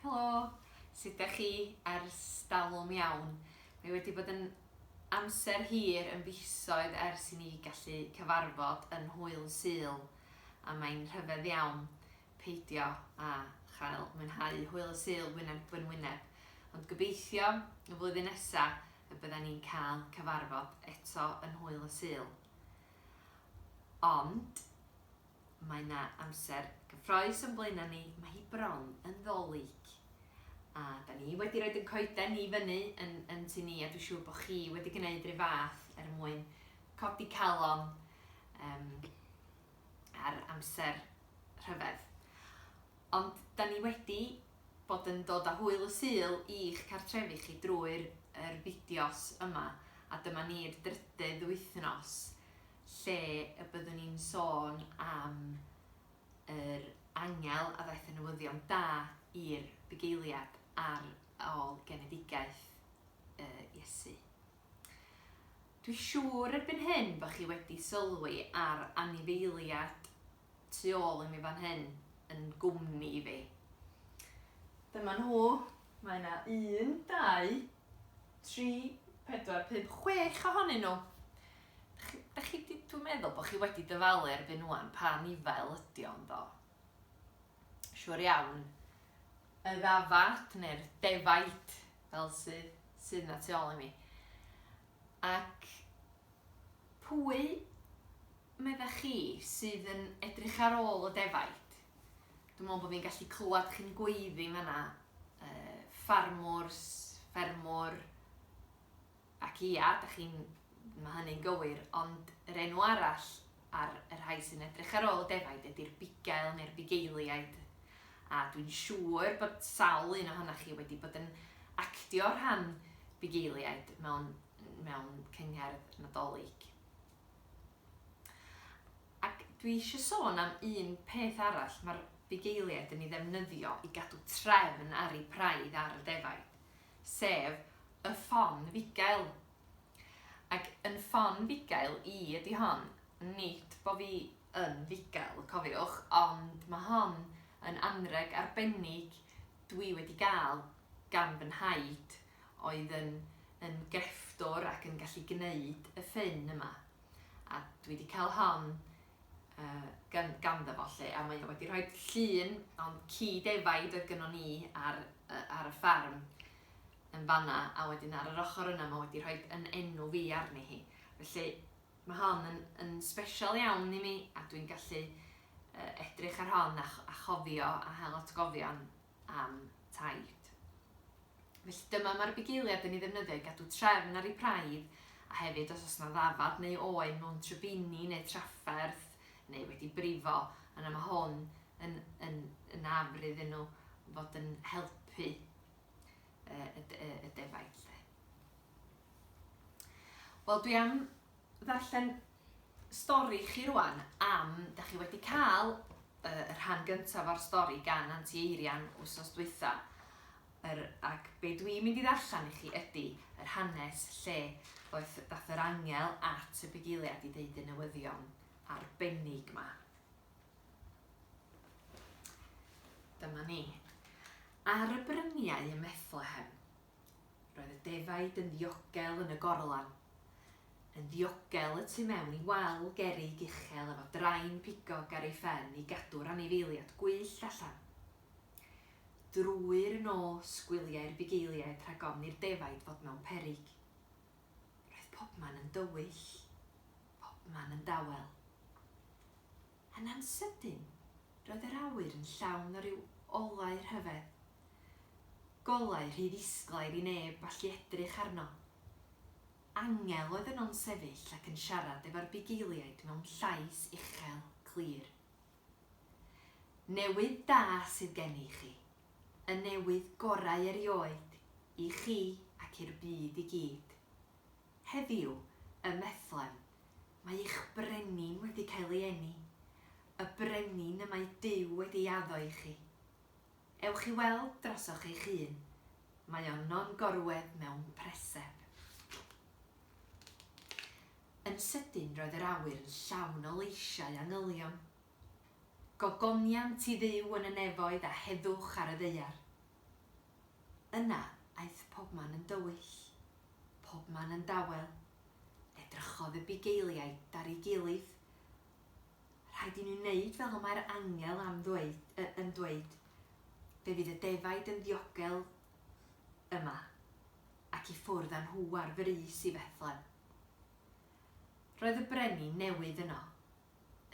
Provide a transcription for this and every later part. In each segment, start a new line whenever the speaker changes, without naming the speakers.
Helo! Sut dach chi? Ers dalwm iawn. Mae wedi bod yn amser hir, yn fisoedd ers i ni gallu cyfarfod yn Hwyl Sul, a mae'n rhyfedd iawn peidio â chael mwynhau Hwyl y Sul wyneb yn wyneb. Ond gobeithio y flwyddyn nesa y bydden ni'n cael cyfarfod eto yn Hwyl y Sul. Ond Mae 'na amser gyffroes o'n blaena' ni, mae hi bron yn Ddolig. A 'da ni wedi rhoid ein coeden i fyny yn yn tŷ ni a dwi'n siŵr bod chi wedi gwneud rhyw fath er mwyn codi calon um, ar amser rhyfedd. Ond 'da ni wedi bod yn dod â hwyl y Sul i'ch cartrefi chi drwy'r yr fideos yma a dyma ni'r drydydd wythnos lle y byddwn ni'n sôn am yr angel a ddaeth y newyddion da i'r bugeiliad ar ôl genedigaeth Iesu. Dwi siŵr erbyn hyn bod chi wedi sylwi ar anifeiliad tu ôl i mi fan hyn yn gwmni i fi. Dyma nhw. Mae yna un, dau, 3, 4, 5, 6 ohonyn nhw. Da chi, chi, dwi'n meddwl bod chi wedi dyfalu erbyn nhw'n pa nifael ydi o'n do. Siwr iawn, y ddafad neu'r defaid fel sydd, sydd na tu ôl i mi. Ac pwy meddech chi sydd yn edrych ar ôl y defaid? Dwi'n meddwl bod fi'n gallu clywed chi'n gweiddi yn fanna. Uh, ffarmwrs, ffermwr, ac ia, da chi'n, mae hynny'n gywir, ond yr enw arall ar y rhai sy'n edrych ar ôl y defaid ydy'r bugail neu'r bugeiliaid. A dwi'n siŵr bod sawl un ohonoch chi wedi bod yn actio rhan bugeiliaid mewn, mewn cyngherdd nadolig. Ac dwi eisiau sôn am un peth arall mae'r bugeiliaid yn ei ddefnyddio i gadw trefn ar eu praidd ar y defaid, sef y ffon fugail. Ac yn ffon fugail i ydi hon, nid bo fi yn fugail, cofiwch, ond mae hon yn anrheg arbennig dwi wedi gael gan fy nhaid, oedd yn yn grefftwr ac yn gallu gneud y ffyn yma. A dwi 'di cael hon uh, gan, ganddo fo lle, a mae o wedi rhoi llun o'n ci defaid oedd gynnon ni ar, uh, ar y ffarm yn fanna, a wedyn ar yr ochr yna mae wedi rhoi yn enw fi arni hi. Felly mae hon yn, yn special iawn i mi, a dwi'n gallu uh, edrych ar hon a, a chofio a hel atgofion am taid. Felly dyma mae'r bugeiliad yn ei ddefnyddio i gadw trefn ar ei braidd a hefyd os oes yna ddafad neu oen mewn trybini neu trafferth neu wedi brifo, yna mae hwn yn, yn, yn afr iddyn nhw fod yn helpu y, y, y defaid. Wel, dwi am ddarllen stori chi rwan am, da chi wedi cael y rhan gyntaf o'r stori gan Anti Eirian wsos dwytha, yr, ac be dwi'n mynd i ddarllen i chi ydy yr hanes lle ddoeth, dath yr angel at y bugeiliad i ddeud y newyddion arbennig ma. Dyma ni. Ar y bryniau ym Methlehem, Roedd y defaid yn ddiogel yn y gorlan, yn ddiogel y tu mewn i wal gerrig uchel efo drain pigog ar ei phen i gadw'r anifeiliad gwyllt allan. Drwy'r nos gwyliai'r bugeiliaid rhag ofn i'r defaid fod mewn peryg. Roedd pobman yn dywyll, pobman yn dawel. Yn ansydyn, roedd yr awyr yn llawn o ryw olau rhyfedd. Golau rhy ddisglair i neb allu edrych arno. Angel oedd yno'n sefyll ac yn siarad efo'r bugeiliaid mewn llais uchel, clir. Newydd da sydd gen i chi. Y newydd gorau erioed, i chi ac i'r byd i gyd. Heddiw, ym Methlehem, mae eich Brenin wedi cael ei eni, y Brenin y mae Duw wedi ei addo i chi. Ewch i weld drosoch eich hun, mae o no'n gorwedd mewn preseb. Yn sydyn roedd yr awyr yn llawn o leisiau angylion. Gogoniant i Dduw yn y nefoedd a heddwch ar y ddaear. Yna aeth pobman yn dywyll, pobman yn dawel. Edrychodd y bugeiliaid ar ei gilydd. Rhaid i ni wneud fel y mae'r angel am ddweud, y, yn dweud, Fe fydd y defaid yn ddiogel yma, ac i ffwrdd â nhw ar frys i Fethlem. Roedd y brenin newydd yno,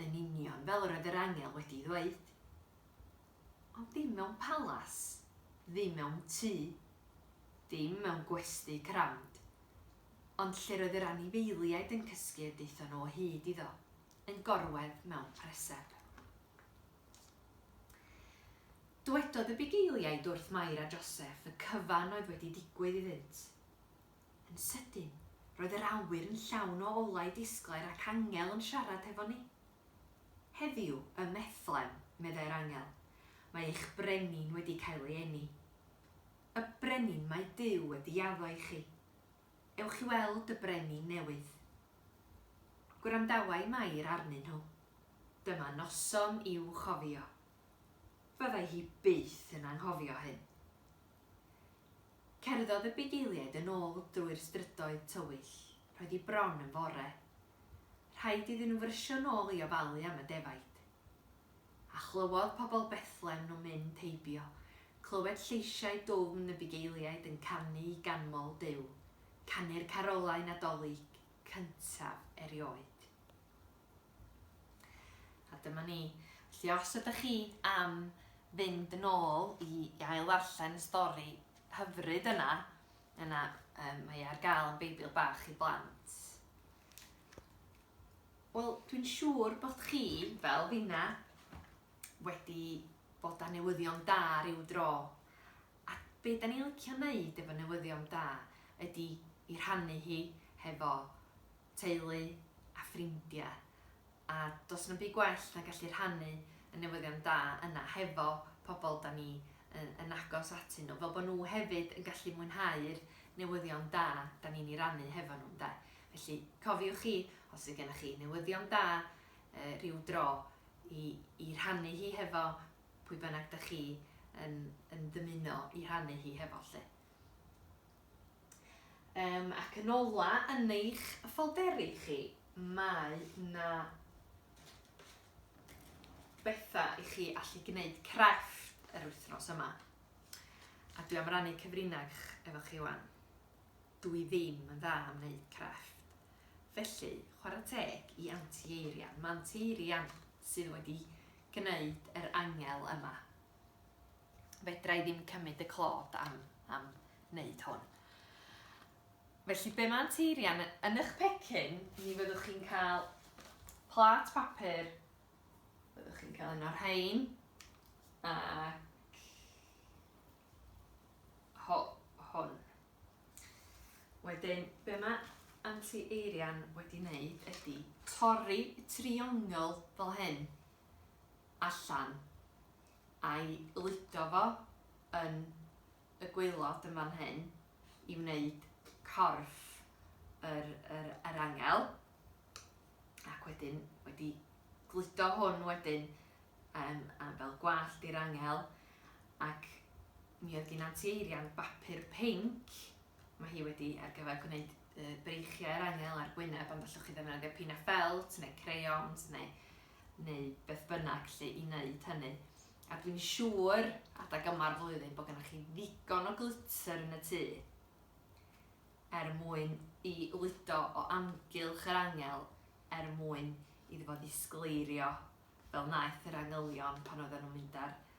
yn union fel yr oedd yr angel wedi'i ddweud. Ond dim mewn palas, ddim mewn tŷ, ddim mewn gwesty crand, ond lle'r oedd yr anifeiliaid yn cysgu a daethon nhw o hyd iddo, yn gorwedd mewn preseb. Dwedodd y bugeiliaid wrth Mair a Joseff y cyfan oedd wedi digwydd iddynt. Yn sydyn, roedd yr awyr yn llawn o olau disglair ac angel yn siarad hefo ni. Heddiw, ym Mhethlem, meddai'r angel, mae eich brenin wedi cael ei eni. Y brenin mae Duw wedi addo i chi. Ewch i weld y brenin newydd. Gwrandawai Mair arnyn nhw. Dyma noson i'w chofio. Byddai hi byth yn anghofio hyn. Cerddodd y bugeiliaid yn ôl drwy'r strydoedd tywyll, roedd hi bron yn fore. Rhaid iddyn nhw frysio nôl i ofalu am y defaid. A chlywodd pobl Bethlem nhw'n mynd heibio, clywed lleisiau dwfn y bugeiliaid yn canu i ganmol Duw, canu'r carolau Nadolig cyntaf erioed. A dyma ni. Felly os ydych chi am fynd yn ôl i ail ddarllen y stori hyfryd yna, yna um, mae ar gael yn Beibl Bach i Blant. Wel, dwi'n siŵr bod chi, fel finna, wedi bod â newyddion da rhyw dro. A be da ni'n licio wneud efo newyddion da ydy i rhannu hi hefo teulu a ffrindiau, a does na'm byd gwell na gallu rhannu y newyddion da yna hefo pobl 'da ni yn agos atyn nhw, fel bod nhw hefyd yn gallu mwynhau'r newyddion da 'da ni'n ei rannu hefo nhw, ynde. Felly, cofiwch chi, os fydd gennych chi newyddion da rhyw dro i i rhannu hi hefo pwy bynnag 'da chi yn yn dymuno i rhannu hi hefo 'lly. Um, ac yn ola yn eich ffolderi chi, mae na bethau i chi allu gwneud crefft yr wythnos yma. A dwi am rannu cyfrinach efo chi wan. Dw i ddim yn dda am wneud crefft. Felly, chwarae teg i Anti Eirian. Mae Anti Eirian sydd wedi gwneud yr angel yma. fedra i ddim cymryd y clod am, am wneud hwn. Felly be mae'n teirian, yn eich pecyn, mi fyddwch chi'n cael plat papur, byddwch chi'n cael un o'r rhain, ac ho, hwn. Wedyn, be mae anti-eirian wedi wneud ydy torri y triongl fel hyn allan a'i ludo fo yn y gwaelod yn fan hyn i wneud corff yr, yr, yr angel. Ac wedyn, wedi gludo hwn wedyn um, am fel gwallt i'r angel. Ac mi oedd gen Anti Eirian bapur pink, mae hi wedi ar gyfer gwneud y breichiau yr angel ar gwyneb ond allwch chi ddefnyddio pina ffelt neu crayons neu, neu beth bynnag lle i wneud hynny. A dwi'n siŵr, adag yma'r flwyddyn, bod gennych chi ddigon o glitter yn y tŷ er mwyn i ludo o amgylch yr angel er mwyn iddo fo ddisgleirio fel naeth yr angylion pan oedden nhw'n mynd ar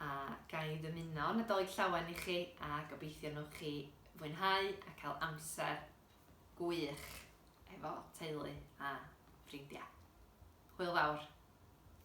A ga i ddymuno Nadolig Llawen i chi a gobeithio wnewch chi fwynhau a cael amser gwych efo teulu a ffrindiau. Hwyl fawr!